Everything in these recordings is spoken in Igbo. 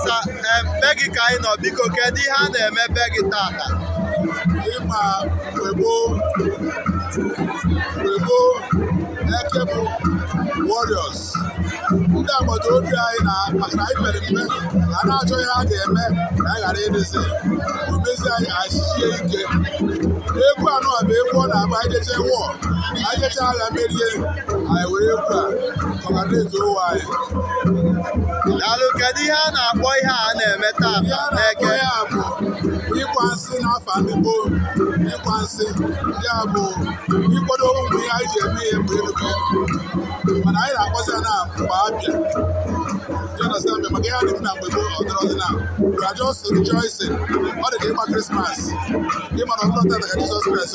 sir em, be gị ka anyị nọ biko kedu ihe a na-eme be gị tata ị ma mgbe gboo mgbe gboo eke bụ warriors ndị agbata obi anyị na maka na anyị mere mgbe na a na-achọ ihe a ga-eme ka anyị ghara ịdịzi omezi anyị achịchie ike egwu anụ a bụ egwu a na-agba anyị jechaa war anyị jechaa agha merie anyị were egwu a congratulate onwe anyị daalụ kedu ihe a na-akpọ ihe a na-eme taa ihe a na-akpọ n'eke ya bụ ịgwa nsị n'afọ ndị gboo ịgwa nsị ya bụ ịkwado ụmụ ihe anyị ji eme ihe mgbe elu mana anyị na-akpọzi ya na mgba abịa You understand me? maka ihe a na-eme na mgbe gboo ọ dịrọzi na we are just rejoicing ọ dị ka ịgba krismas ị mara ọ bụrọ tata ka jizọs kraịst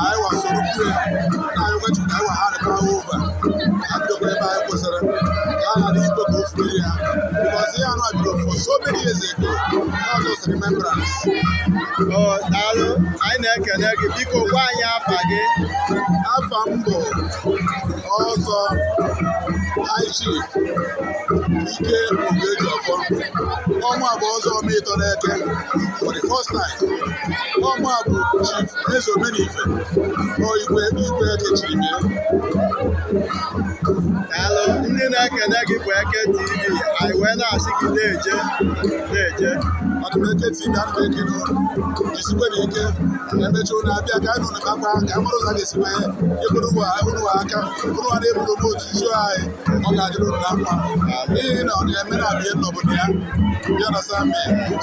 anyị wasoro mmiri na anyị nwechiri nna anyị wa ha rịpụrụ hand over ka a bidokwa ebe anyị kwụsịrị ka a ghara ikwe ka o fubiri ya because ihe anụ a bido for so many years ago not just remembrance O, daalụ anyị na-ekene gị biko gwa anyị afa gị afa m bụ ọzọ high chief ike oguejiọfọ ọnwa bụ ọzọ ọma ịtọ n'eke for the first time ọma bụ Chief Eze Omenife bụ igwe igwe eke chiri bịa daalụ ndị na-ekene gị bụ eke tv anyị wee na-asị gị na-eje na-eje ọdụmeke tv ana m ekele unu jisikwa nụ ike emechi unu abịa ka anyị nụrụ kakwa ka mụrụ ụzọ ga-esi wee ekwuru ụwa unu aka unu a na-eburu m otu isi anyị ọ ga-adịrị unu na mma n'ihi na ọ na-eme na abịa n'obodo ya bịa na sami